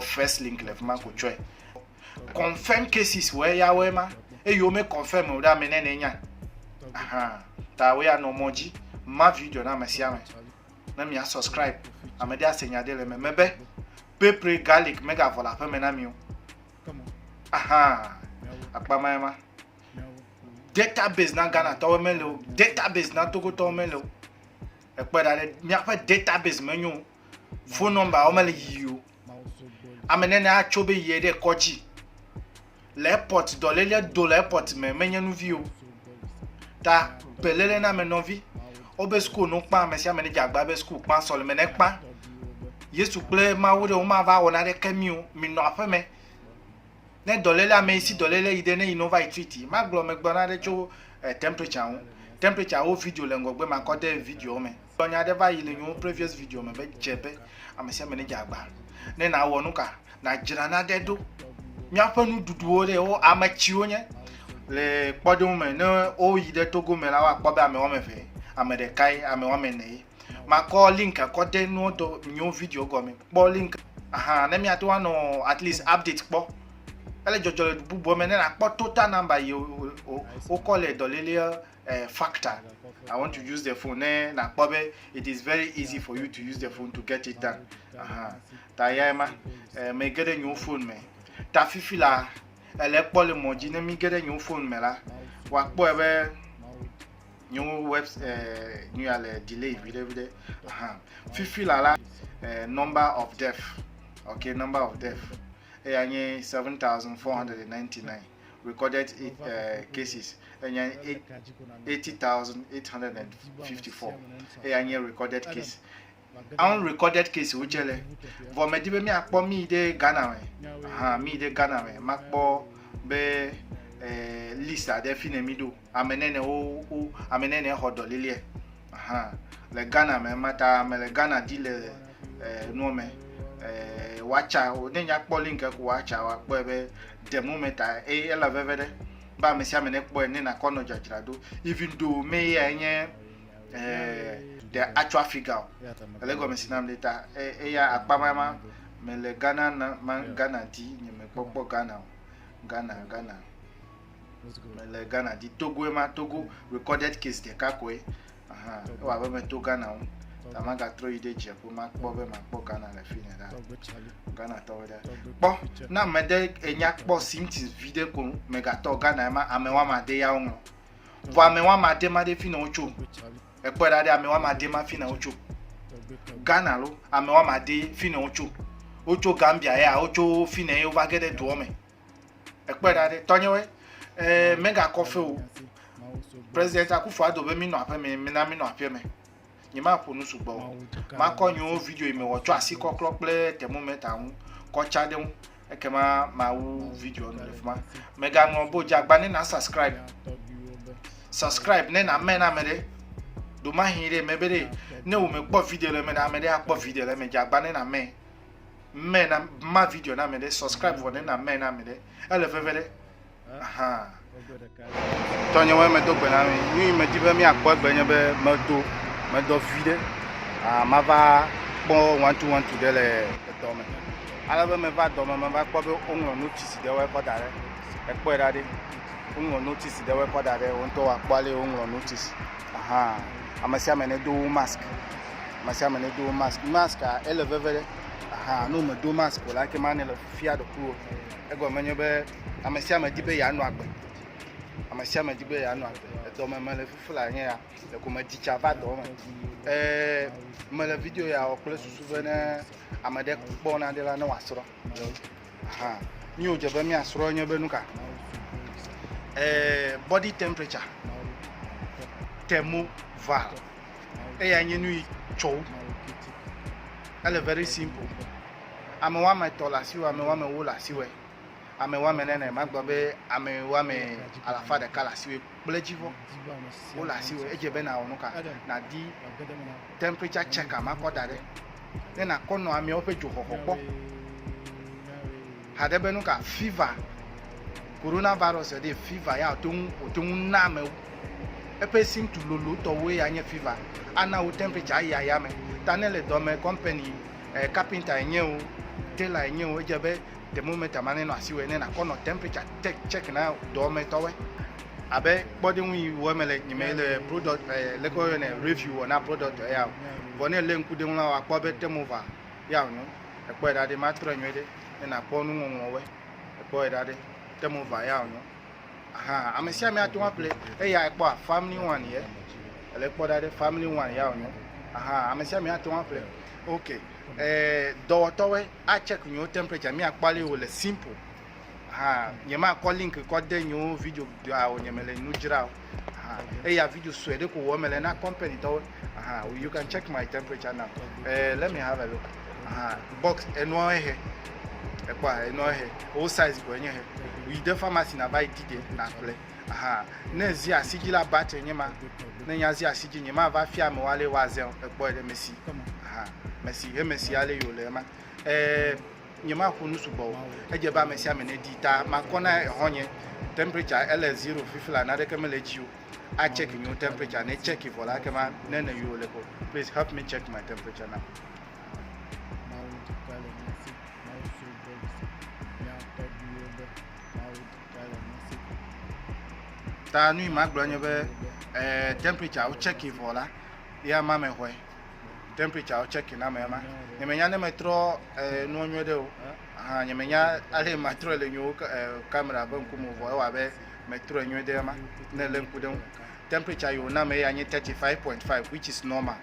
First link le fi ma ko tsɔe. Confirm cases wɔe ya wɔe ma. Eye wome confirm o ɖe ame nene nya. Aha. Ta wo ya nɔ mɔ dzi. Ma video na ame sia ame. Ne mia subscribe. Ame ɖe ase nya ɖe le me. Mebe. Pepre garlic mega vɔ le aƒe me na mi o. Aha. Akpa ma ya ma. Database na Ghana tɔwo mele o. Database na Togo tɔwo mele o. Ekpe ɖa ɖe miaƒe database menyo o. fon nɔmba wo mele yiyi o ame nene atso be yie ɖe kɔdzi le airport dɔlele do le airport me menye nu vi o ta belele na me nɔvi wobe school no kpa ame sia ame ne dze agba be school kpa sɔleme ne kpa yesu kple mawu ɖe womava wɔ naneke mi o minɔ aƒeme ne dɔlele ame yi si dɔlele yi ɖe ne yi nova yi triti magblɔ megblɔ na ɖe tso eh, temperature ŋu temperature wo video le ŋgɔgbe makɔ de video me Gblɔ nya aɖe va yi le nyewo previous video me be dze be ame sia ame ne dze agba ne nawɔ nu ka nadzra naɖe ɖo míaƒe nuɖuɖuwo ɖe wo ame tsiwo nye le kpɔɖeŋu me ne woyi ɖe togo me la woakpɔ be ame wɔme eve ame ɖekae ame wɔme ene ye makɔ link kɔ de nuwo do nyewo video gɔme kpɔ link aha ne míate ŋu anɔ at least update kpɔ ele dzɔdzɔ le bubu me ne nakpɔ total number yi wokɔ le dɔlélia uh, factor. I want to use the phone. Eh, na kobe, it is very easy for you to use the phone to get it done. Uh-huh. Ta ya ma, eh, me get a new phone me. Ta fifi la, ele kpɔ le mɔ dzi ne mi get a new phone me la, wa kpɔ ebe new web eh, new ya le delay vide vide. Uh-huh. Fifi la la, eh, number of death. Okay, number of death. Eh, 7499. recorded uh, cases enye 80854 eya nye recorded case àwọn recorded case wo tsɛ le vɔ medi be míakpɔ mí ɖe ghana me hã mí ɖe ghana me makpɔ be eh, list aɖe fi ne mí ɖo Ame nɛnɛ wo wo ame nɛnɛ xɔ dɔ lilie. Ahan le Ghana me mata ame le Ghana di le eh, nuɔ me eh, watsa o ne nya kpɔ link ko watsa wa kpɔe be the moment a e ele veve ɖe ba ame sia ame ne kpɔe ne na kɔ nɔ dzadzra do even do me ya enye eh, the actual figure o ele gɔme si nam de ta eya akpa ma ma me le Ghana na ma Ghana di nye me kpɔkpɔ Ghana o Ghana Ghana mele ghana di togoe ma togo recorded case ɖeka koe aha ewɔ abe meto ghana ŋu ta magatrɔ yi ɖe dzieƒo makpɔ be makpɔ ghana le fi ne ɖa ghana tɔwo ɖe kpɔ na ame ɖe enya kpɔ symptoms vi ɖe ko megatɔ ghana ma ame woama de yawo ŋlɔ vɔ ame woama de ma ɖe fi ne wotso ekpɔe ɖa ɖe ame woama de ma fi ne wotso ghana lo ame woama de fi ne wotso wotso gambia ya wotso fi ne wova ge ɖe doɔ me ekpɔe ɖa ɖe tɔnyewe eh, megakɔ fe o president akufo ado be minɔ aƒe me mina minɔ aƒe me nyemaƒo nu sugbɔ o makɔ nyewo video yi me wɔtsɔ asi kɔklɔ kple termometer ŋu kɔ tsa ɖe ŋu ekema mawu video nu le fi ma megaŋlɔ bo dze agba ne na subscribe subscribe ne na mɛ na ame ɖe ɖomahi ɖe mebe ɖe ne wò mekpɔ video le me ɖe ame ɖe akpɔ video le me dze agba ne na mɛ mɛ na ma video na me ɖe subscribe vɔ ne na mɛ na me ɖe ele veve ɖe ahan tɔnye wɔn me do gbe na mi nu yi me di be mi akpɔ egbe nye be me do me dɔ vi ɖe ah ma va kpɔ wantu wantu ɖe le edɔ me ale be me va dɔ me me va kpɔ be woŋlɔ notice ɖe wɔ kɔ da ɖe ekpɔe ɖa ɖe woŋlɔ notice ɖe wɔ kɔ da ɖe wo ŋutɔ wa kpɔ ale woŋlɔ notice Ahan, ame sia ame nedo mask. Ame sia ame nedo mask. Maskia, ele veve ɖe. Ahan, ne wòmedo mask o la, ekema nèle fu fia ɖokuiwò. Egɔme nye be, ame sia ame di be yeanɔ agbe. Ame sia ame di be yeanɔ agbe. Edɔme mele fufu le anye ya, le gome di tsa va dɔ me. Ɛɛ, mele video ya wɔ kple susu be ne ame ɖe kpɔ nane la, ne wòasrɔ̃. Aha, mi o dze be mi asrɔ nye be nuka? Eh, body temperature, thermoval. Eya nye nu yi tsɔ wo. Ele very simple. Ame woame etɔ̃ le asiwò, ame woame ewo le asiwò, ame woame ene, magblɔ be ame woame alafa ɖeka le asiwò. kple edzi vɔ wole asi wɔ edze be nawɔ nu ka nadi temperature checker ma kɔ da ɖe ne nakɔ nɔ ameawo ƒe dzoxɔxɔ kpɔ haɖe be nu ka fever coronavirus ɖe fever ya wote ŋu wote ŋu na amewo eƒe sintu lolotɔwoe ya nye fever ana wo temperature ayi ayame ta ne le dɔme company eh, carpenter enye o tailor enye o edze be thermometer ma nenɔ asi wɛ ne nakɔ nɔ temperature te check na dɔwɔmɛ tɔwɛ abe kpɔɖeŋu yi wɔ me le nyime le product ɛ eh, leke wɔyɔ ne review wɔ na product ɛ ya vɔ ne le ŋku ɖeŋu la wakpɔ be temova ya nu ekpɔ yi ɖaɖe matrɔ nyuie ɖe ne nakpɔ nuŋɔŋlɔ wɛ ekpɔ yi ɖaɖe temova ya nu aha ame sia ame ato aƒle eya ekpɔ a family one ye ele kpɔ ɖaɖe family one ya nu aha ame sia ame ato aƒle ok ɛ eh, dɔwɔtɔwɛ a check nyewo temperature mi akpɔ ale wole simple ha nye ma kɔ link kɔ de nyewo video doa o nye me le nu dzra o ha eya video sue ɖe ko wɔ me le na company tɔwo ha you can check my temperature now eh let me have a look ha box enua ehe ekpɔ enua ehe o size ko enye he yi de pharmacy na va yi dide na ƒle Aha, ne èzia asi dzi la, batri nye ma. Ne nyazia asi dzi, nyemava fia amewo ale woazẽ o. Èkpɔe ɖe Messi. Aha, Messi, he Messi ale yi wòle ema. Ee, nyemaƒo nu sugbɔ o. Edze be ame sia ame neɖi ta makɔ na xɔ̃nye. Temperature ele zero fifi la, naneke mele edzi o. Atsɛki nyewo temperature. Ne etsɛki vɔ la, ekema ne nèyi wòle ko. Please help me check my temperature now. ta nu yi ma gblɔ nye be eh, temperature wo check vɔ la ye ama me xɔe temperature wo check na me ma nye menya ne metrɔ eh, nu nyuie ɖe o aha nye menya ale ma trɔ le nyuie eh, kamera be ŋkume vɔ ewa be metrɔ nyuie ɖe ma ne le ŋku ɖe ŋu temperature yi wo na me ya nye 35.5 which is normal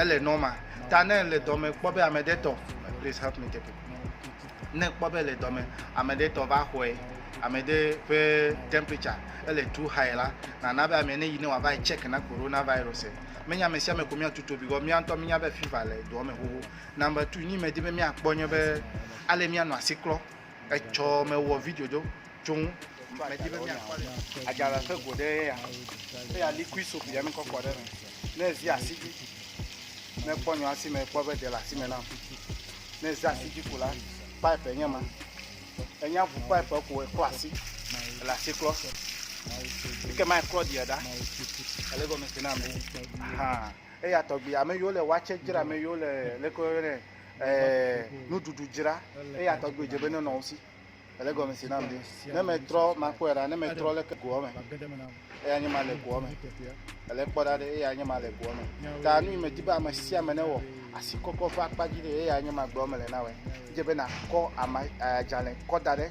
ele normal ta ne le dɔme kpɔ be ame ɖe tɔ please help me take it ne kpɔ be le dɔme ame ɖe tɔ va xɔe ame ɖe ƒe temperature ele too high la nana be ame ne yi ne wòava check na coronavirus menye ame sia ame ko míatu to because mía ŋutɔ mínya be fever le doa me xoxo number two ni medi be míakpɔ nye be ale míanɔ asi klɔ Etsɔ mewɔ video ɖo tso ŋu. Medi be miakpɔ ɖe. Adzalẽ ƒe go ɖe ye ya. Eya likui soap ya mi kɔkɔ ɖe me. Ne ezi asi dzi. Ne kpɔ nyɔ asi me kpɔ be de le asi me na. Ne ezi asi dzi ko la pipe nye ma. Enya ʋu pipe ko ekɔ asi. Le asi klɔ. Ike ma eklɔ di eda. Ale gɔme se na me. Ha. Eya tɔgbi ame yiwo le watse dzra ame yiwo le lekɔ ne. eh, nuɖuɖu dzra, eya tɔ gbe dze be nenɔ wo si. Ele gɔme si nam ɖi. Ne metrɔ makpɔe ɖa, ne metrɔ le goa me, eya nye ma le goa me. Ele kpɔ ɖa ɖe, eya nye ma le goa me. Ta nu yi medi be ame sia ame newɔ asi kɔkɔ va akpa dzi ɖe, eya nye ma gblɔ mele na wɔ. Dze be nakɔ ama eh, dzalẽ kɔ da ɖe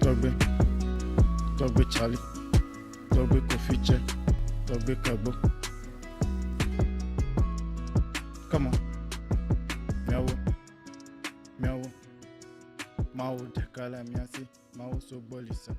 Tɔgbe, tɔgbe Charlie, tɔgbe Kofi Che, tɔgbe Kagbo. Come on. Miawo, miawo, Mawu ɖeka le mia si, Mawu sɔgbɔ li sa.